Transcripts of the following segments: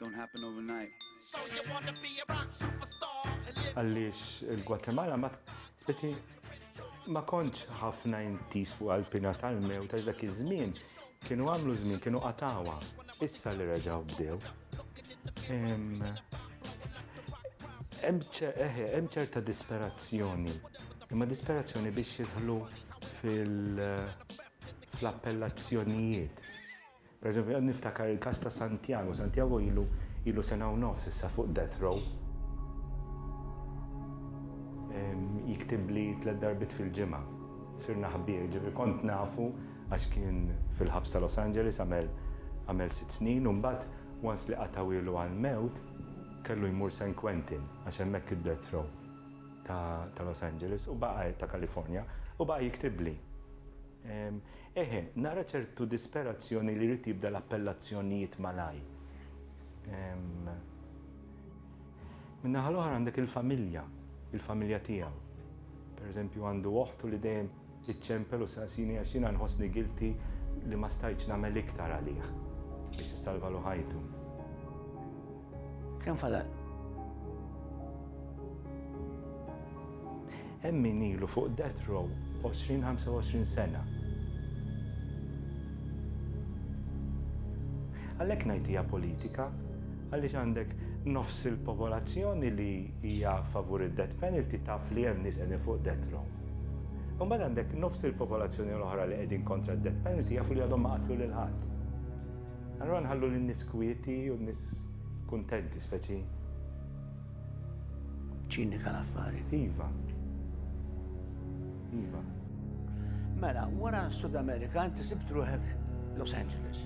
Don't happen overnight. So you wanna be a rock superstar? Għallis il-Gwatemala ma t-titi ma kontx ħafna intis fuq għal-pina tal-mew ta' dak iż-żmien kienu għamlu żmien kienu qatawa issa li reġaw bdew. Hemm ċerta disperazzjoni, imma disperazzjoni biex jidħlu fil-appellazzjonijiet. Pereżempju, qed niftakar il-każ ta' Santiago. Santiago ilu ilu sena u nofs issa fuq death row. Jiktibli tliet darbiet fil-ġimgħa. Sirna ħbieb, jiġifieri kont nafu għax kien fil-ħabs ta' Los Angeles għamel għamel sitt snin u mbagħad once li qatgħuhielu għall-mewt kellu jmur San Quentin għax hemmhekk id-death row ta' ta' Los Angeles u baqa' ta' California u baqa' jiktibli. Eħe, nara ċertu disperazzjoni li jrid jibda l-appellazzjonijiet malajr. Min-naħa l-oħra għandek il-familja, il-familja tiegħu. Per eżempju għandu oħt u li dejjem iċċempel u saqsini għax jiena nħossni guilty li ma stajtx nagħmel iktar għalih biex issalvalu ħajtu. Kemm fadal? Hemm min ilu fuq death row 20-25 sena. Għalhekk ngħid hija politika għaliex għandek nofs il-popolazzjoni li hija favur id-death penalty taf li hemm nies qegħdin fuq death row. Imbagħad għandek nofs il-popolazzjoni l-oħra li qegħdin kontra d-death penalty jafu li għadhom ma qatlu lil ħadd. Allura nħallu lin-nies kwieti u n-nies kuntenti speċi. Ċinika l-affari. Iva. Iva. Mela, wara Sud Amerika inti sibt ruħek Los Angeles.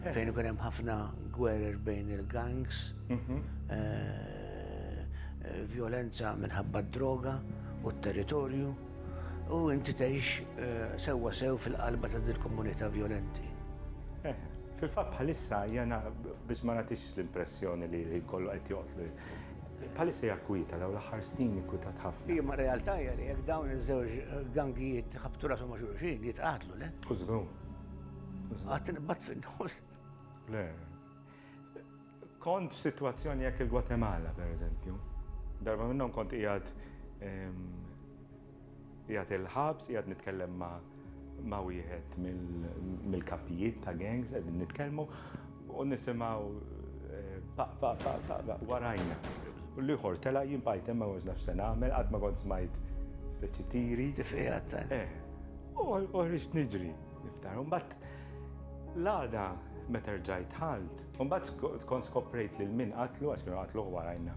Eh. Fejn ikun hemm ħafna gwerer bejn il-gangs, mhm. eh, eh, violenza minħabba d-droga u t-territorju. U inti tgħix eh, sewwa sew fil-qalba ta' dil komunità vjolenti. Eh, fil-fatt bħalissa jena biex ma nagħtix l-impressjoni li kollu qed joqtli. Bħalissa hija kwita dawn l-aħħar snin kwitat ħafna. Imma realtà hija li jekk dawn iż-żewġ gangijiet ħabtu rashom ma' xulxin jitqatlu le. Użgu. Għattin bat fin-nofs. Le, Kont f'sitwazzjoni hekk il-Gwatemala, pereżempju. Darba minnhom kont qiegħed qiegħed il-ħabs, qiegħed nitkellem ma' ma' wieħed mill-kapijiet ta' gangs qegħdin nitkellmu u nisimgħu paq paq paq paq paq warajna. U l-ieħor tela' jien bqajt hemm ma kontx naf se nagħmel, qatt ma kont smajt speċi tiri. Tifqigħa ta'. Eh. U ħriġt niġri, niftakar. U mbagħad l-għada meta rġajt dħalt, Imbagħad kont skoprejt lil min qatlu għax kienu qatluh warajna.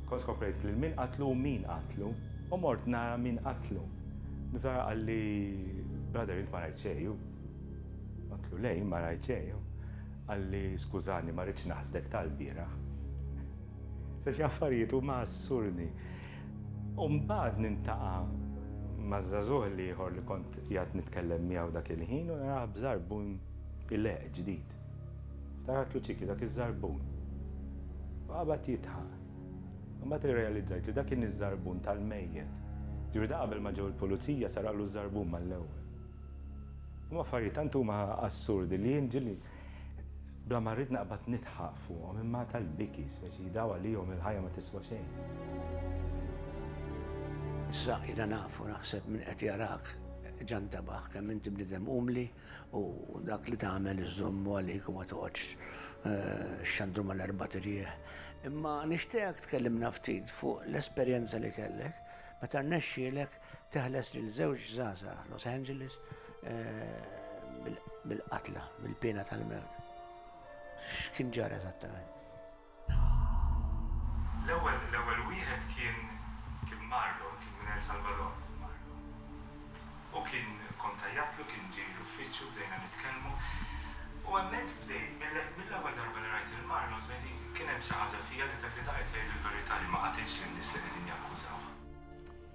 Kont skoprejt lil min qatlu u min qatlu u mort nara min qatlu. Niftar qalli brother int ma rajt xejju. Għatlu lej ma rajt xejju. Qalli skużani ma rridx naħsdek tal-bieraħ. Se xi affarijiet huma assurdi. Umbagħad nintaqa' maż-żagħżugħ li ieħor li kont qiegħed nitkellem miegħu dak il-ħin u naraħ bżarbun ileq ġdid. Ftaħart Luċiki, dak iż-żarbun. U qabad jidħaq. Imbagħad irrealizzajt li dak kien iż-żarbun tal-mejjet. Ġifieri da qabel ma ġew il-pulizija saraqlu ż-żarbun mal-ewwel. Imma affarijiet tant huma assurdi li jien ġieli bla ma rrid naqbad nidħaq fuqhom imma tal-biki speċi daw għalihom il-ħajja ma tiswa xejn. Issa jiena nafu naħseb min qed jarak ġan tabaħ kemm inti bniedem umli U dak li tagħmel iżżommu għalik u ma toqgħodx xxandru mal-erbat irjieħ. Imma nixtieqek tkellimna ftit fuq l-esperjenza li kellek meta rnexxielek teħles lil żewġ żgħażagħ Los Angeles mill-qatla, mill-piena tal-mewt. X'kien ġara eżattament? L-ewwel l-ewwel wieħed kien kien Marlon, kien minn El Salvador Marlon. U kien kkontajjatlu, kien ġie l-uffiċċju, bdejna nitkellmu. U hemmhekk bdejt, mill mill-ewwel darba li rajt lil Marlon żmien kien hemm xi ħaġa fija li li daqqiet tgħid il-verità li ma qatitx lin-nies li qegħdin jakkużawh.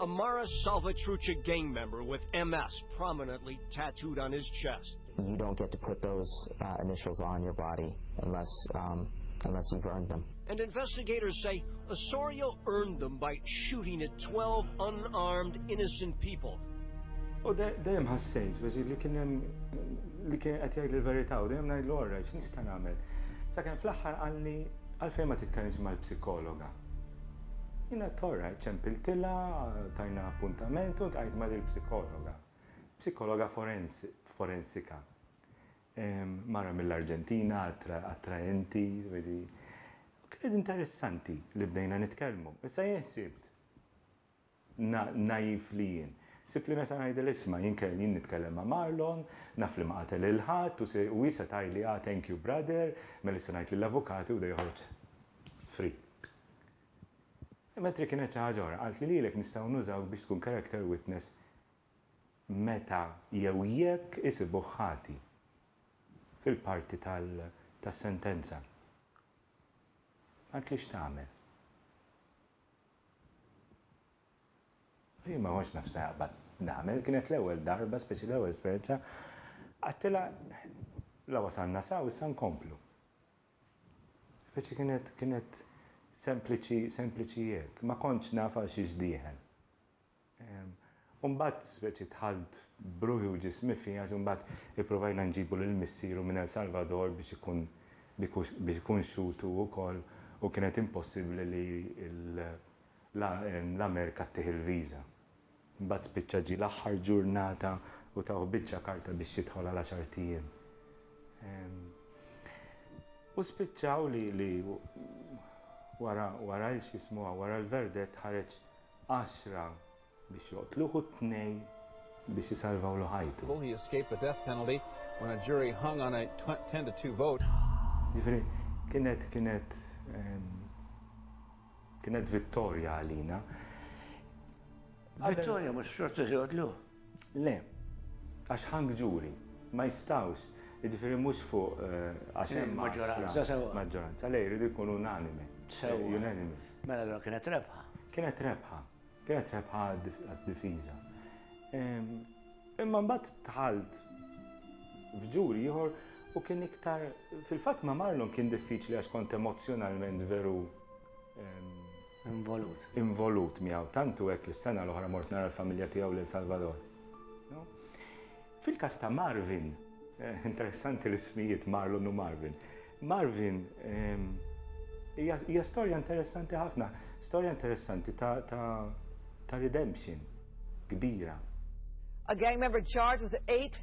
A Mara Salvatrucha gang member with MS prominently tattooed on his chest. You don't get to put those initials on your body unless um unless you've earned them. And investigators say Osorio earned them by shooting at 12 unarmed innocent people. U dejjem ħassejt, biex li kien hemm li kien qed jgħid l-verità u dejjem ngħidlu orra x'nista' nagħmel. Sakemm fl-aħħar qalli għalfejn ma titkellimx mal-psikologa. Jien għedt orrajt, ċempiltilha, tajna appuntament u ntqajt ma' dil-psikologa. Psikologa forensika. Mara mill-Arġentina, attraenti, Kienet interessanti li bdejna nitkellmu. Issa jien ħsibt, naif li jien. Sibt li nesa' ngħidilha isma' jien jien nitkellem ma' Marlon, naf li ma qatel lil ħadd u hi se tgħidli ah thank you brother, mela issa ngħid lill-avukati u da joħroġ free. Imma trid kienet xi ħaġa oħra, qaltli lilek nistgħu nużawk biex tkun character witness meta jew jekk isibuh ħati fil-parti tas-sentenza. Qaltli x'tagħmel. Jien ma kontx naf x'naqbad nagħmel, kienet l-ewwel darba, speċi l-ewwel esperjenza. Għedtilha, la wasalna sa u issa nkomplu. Speċi kienet, kienet sempliċi, sempliċi hekk. Ma kontx naf għal xiex dieħel. U mbagħad speċi dħalt b'ruħi u ġismi fih għax imbagħad ipprovajna nġibu lil missieru minn El Salvador biex ikun biex ikun xhud hu wkoll u kienet impossibbli li l-Amerika ttih il-viża. Imbagħad spiċċa ġie l-aħħar ġurnata u tawh biċċa karta biex jidħol għal għaxart ijiem. U spiċċaw li wara wara il-x'jismuha wara l-verdett ħareġ għaxra biex joqtluh u tnej biex isalvawlu ħajtu. Jiġifieri kienet kienet kienet vittorja għalina. Vittorja mhux xorta se joqtluh. Le, għax hung jury, ma jistgħux, jiġifieri mhux fuq għax hemm maġġoranza. Maġġoranza, le jridu jkunu unanime. Sewwa. Unanimous. Mela allura kienet rebħa. Kienet rebħa. Kienet rebħa għad-difiża. Imma mbagħad dħalt f'ġuri ieħor u kien iktar fil-fatt ma' Marlon kien diffiċli għax kont emozzjonalment veru Involut. Involut miegħu. Tantu hekk li s-sena l-oħra mort nara l-familja tiegħu lil Salvador. Fil-każ ta' Marvin, eh, interessanti l-ismijiet Marlon u Marvin. Marvin ehm, hija storja interessanti ħafna, storja interessanti ta' ta' redemption kbira. A gang member charged with eight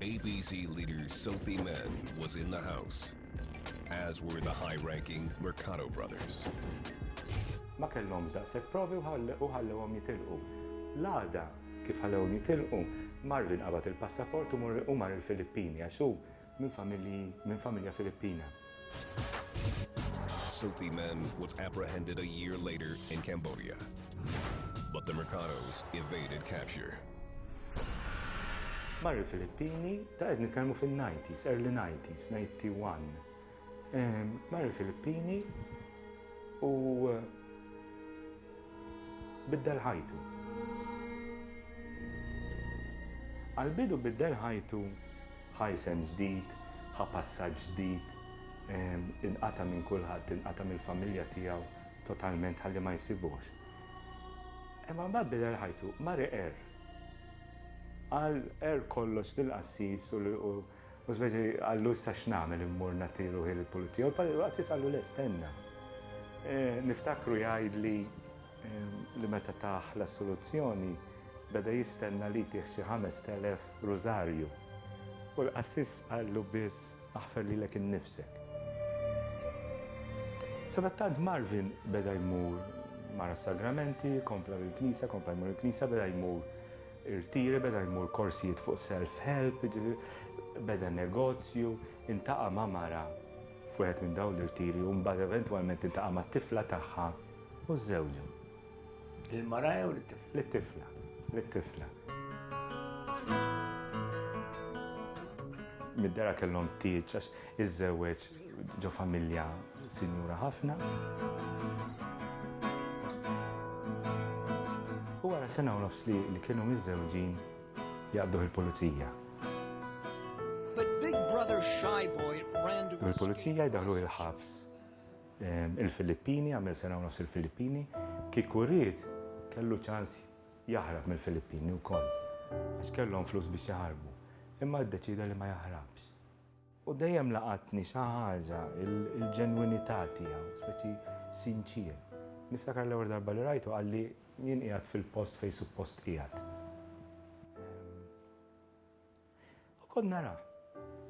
ABC leader Sophie Mann was in the house, as were the high-ranking Mercado brothers. Ma kellhomx daqshekk provi u ħallewhom jitilqu. L-għada kif ħallewhom jitilqu, mar li nqabad il-passaport u mar il-Filippini għax hu minn familja Filippina. Sophie Mann was apprehended a year later in Cambodia, but the Mercados evaded capture. Marri Filippini, ta' għed nitkellmu fil-90s, early 90s, 91. Marri Filippini u eh, biddel ħajtu. Għal-bidu biddel ħajtu Ħa isem ġdid, ħa passaġġ ġdid, inqata' minn kulħadd, inqata' mill-familja tiegħu totalment ħalli ma jsibuhx. Imma mbagħad bidel ħajtu, mar iqerr. Qal qerr kollox lill-qassis u speċi qallu issa x'nagħmel immur nagħti ruħi lill-pulizija u l-qassis qallu le stenna. Niftakru jgħidli, li meta tah l-assoluzzjoni beda jistenna li jtih xi ħamest elef rużarju, u l-qassis qallu biss aħfer lilek innifsek. Sadattant Marvin beda jmur mar għas-sagramenti, kompla bil-knisja, kompla jmur il-knisja, beda jmur irtiri, beda jmur korsijiet fuq self-help, beda negozju, intaqa' ma' mara f'wieħed minn dawn l-irtiri u mbagħad eventwalment intaqa' mat-tifla tagħha. U żżewġu. Lill-mara jew lit-tifla? Lit-tifla. Lit-tifla. Mid-dara kellhom tieġ għax iżżewweġ ġo familja sinjura ħafna. U wara sena u nofs li kienu miżżewġin jaqbduh il-pulizija. Il-pulizija jdaħlu il-ħabs. Il-Filippini, għamel sena u nofs il-Filippini, kieku ried kellu ċans jaħrab mill-Filippini wkoll għax kellhom flus biex jaħarbu, imma ddeċieda li ma jaħrabx. U dejjem laqatni xi ħaġa l-ġenwinità tiegħu, speċi sinċier. Niftakar l-ewwel darba li rajtu qalli jien qiegħed fil-post fejn suppost qiegħed. U kont nara.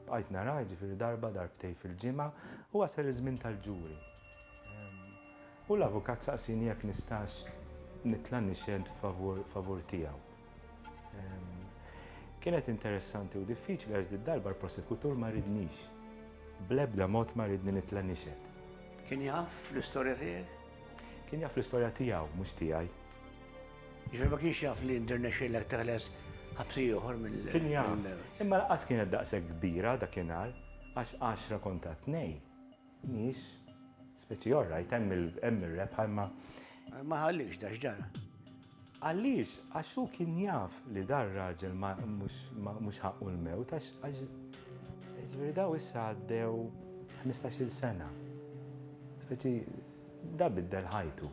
Bqajt nara, jiġifieri darba, darbtejn fil-ġimgħa, u wasal iż-żmien tal-ġuri. U l-avukat saqsieni jekk nistax nitla' nixhed favur tiegħu. Kienet interessanti u diffiċli għax did-darba l-prosekutur ma ridnix. Bl-ebda mod ma ridni nitla' nixhed. Kien jaf l-istorja tiegħek? Kien jaf l-istorja tiegħu, mhux tiegħi. Jiġifieri ma kienx jaf li nrnexxielek teħles ħabsi ieħor mill-. Kien jaf, imma lanqas kienet daqshekk kbira dakinhar għax għaxra konta tnej mhijiex speċi all right, hemm ir-rebħa imma. Ma ħalliekx da x'ġara? Għaliex? Għax hu kien jaf li dar raġel mhux ħaqqu l-mewt għax jiġifieri daw issa għaddew ħmistax-il sena. Speċi da biddel ħajtu.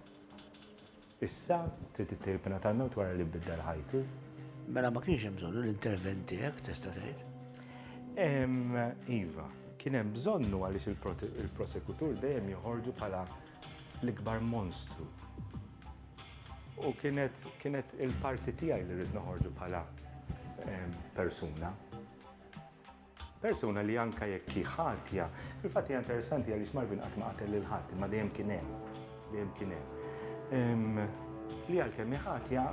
Issa, trid ittejjeb il-pina tal-mewt wara li biddel ħajtu? Mela ma kienx hemm bżonnu l-intervent tiegħek, tista' tgħid? Iva, kien hemm bżonnu għaliex il-prosekutur dejjem joħorġu bħala l-ikbar monstru. U kienet il-parti tiegħi li rrid noħorġu bħala persuna. Persuna li anke jekk hi ħatja, fil-fatt hija interessanti għaliex Marvin qatt ma qatel lil ħadd, imma dejjem kien hemm, dejjem kien hemm. Li għalkemm hi ħatja,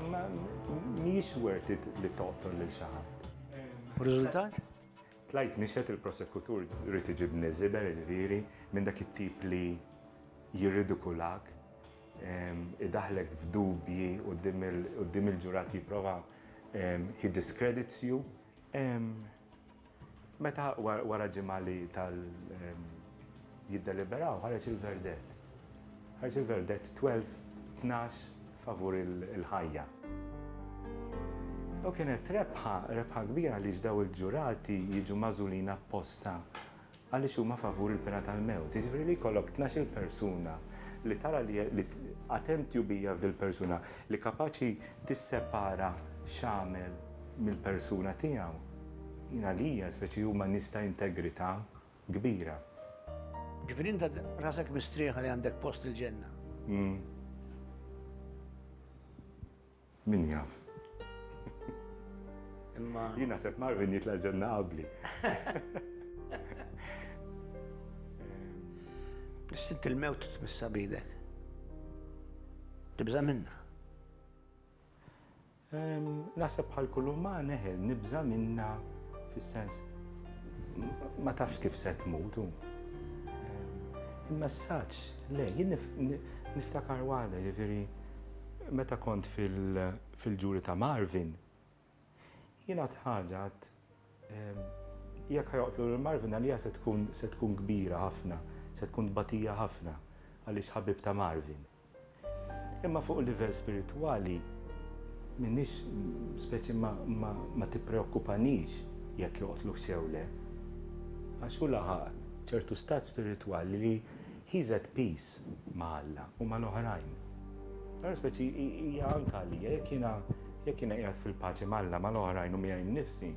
mhijiex worth it li toqtol lil xi ħadd. U riżultat? Tlajt nixhed il-prosekutur ried iġibni żibel, jiġifieri, minn dak it-tip li jirridikulak, idaħħlek f'dubji quddiem il-ġurati jipprova he discredits you. Meta wara ġimgħa li tal jiddeliberaw ħareġ il-verdett. Ħareġ il-verdett 12 12 favur il-ħajja. U kienet rebħa, rebħa kbira li ġdaw il-ġurati jiġu mażulin apposta Għaliex huma favur il-pena tal-mewt. Jiġifieri li jkollok tnax-il persuna li tara li għad hemm tjubija f'dil-persuna li kapaċi tissepara x'għamel mill-persuna tiegħu. Jien għalija speċi huma nies ta' integrità kbira. Ġifieri int għad rasek mistrieħa li għandek post il-ġenna? Min jaf. Imma. Jien naħseb Marvin jitla' l-ġenna qabli. Nissint il-mewt tmissa bidek. Tibża minna. Naħseb bħal kull uman eħe, nibża minna fis-sens ma tafx kif se tmut. Il-messaġġ, le, jien niftakar waħda, ġifieri Meta kont fil-ġuri ta' Marvin, jien għadt ħaġa, għadt, Jekk ħa joqtlu lil Marvin, għalija se tkun, se tkun kbira ħafna, se tkun tbatija ħafna, għaliex ħabib ta' Marvin. Imma fuq livell spiritwali, m'iniex, speċi ma, ma, ma tippreokkupanix jekk joqtluhx jew le. Għax hu laħaq ċertu stat spiritwali li He's at peace ma' Alla u mal-oħrajn. Allura speċi hija anke għalija, jekk jiena jekk jiena qiegħed fil-paċi m'Alla, mal-oħrajn u miegħi nnifsi,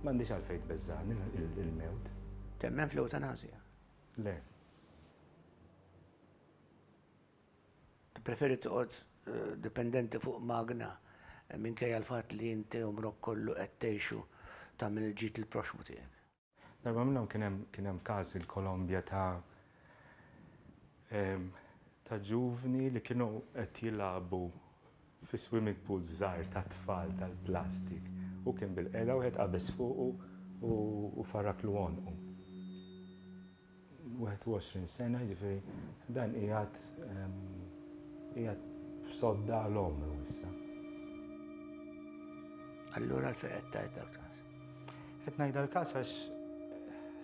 m'għandix għalfejn tbeżżagħni l-mewt. Temmen fl-ewtanasja? Le. Tippreferi toqgħod dipendenti fuq magna minkejja l-fatt li inti għumrok kollu qed tgħixu tagħmel il-ġid lill-proxxmu tiegħek? Darba minnhom kien hemm kien hemm każ il-Kolombja ta' ta' ġuvni li kienu qed jilagħbu fi swimming pools żgħar tat-tfal tal-plastik. Hu kien bil-qiegħda wieħed qabeż fuqu u farraklu għonqu. 21 sena, jiġifieri dan qiegħed qiegħed f'sodda għal omru issa. Allura l qed tgħid dal-każ. Qed ngħid dal-każ għax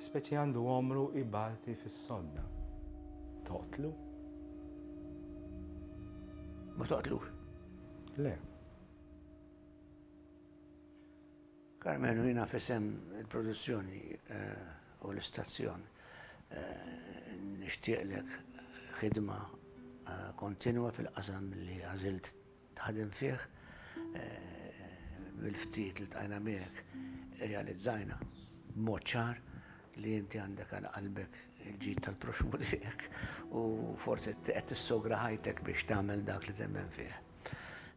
speċi għandu omru ibati fis-sodda. Toqtlu? Ma toqtlu? Le. Karmenu, Jiena f'isem il-produzzjoni u l-istazzjon nixtieqlek ħidma kontinwa fil-qasam li għażilt taħdem fih. Mill-ftit li ltqajna miegħek irrealizzajna b'mod ċar li inti għandek għal qalbek il-ġid tal-proxxmu tiegħek u forsi qed tissogra ħajtek biex tagħmel dak li temmen fih.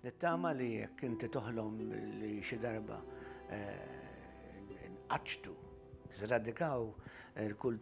Nittama li jekk inti toħlom li xi darba eh, nqaċtu, zradikaw il-kultur.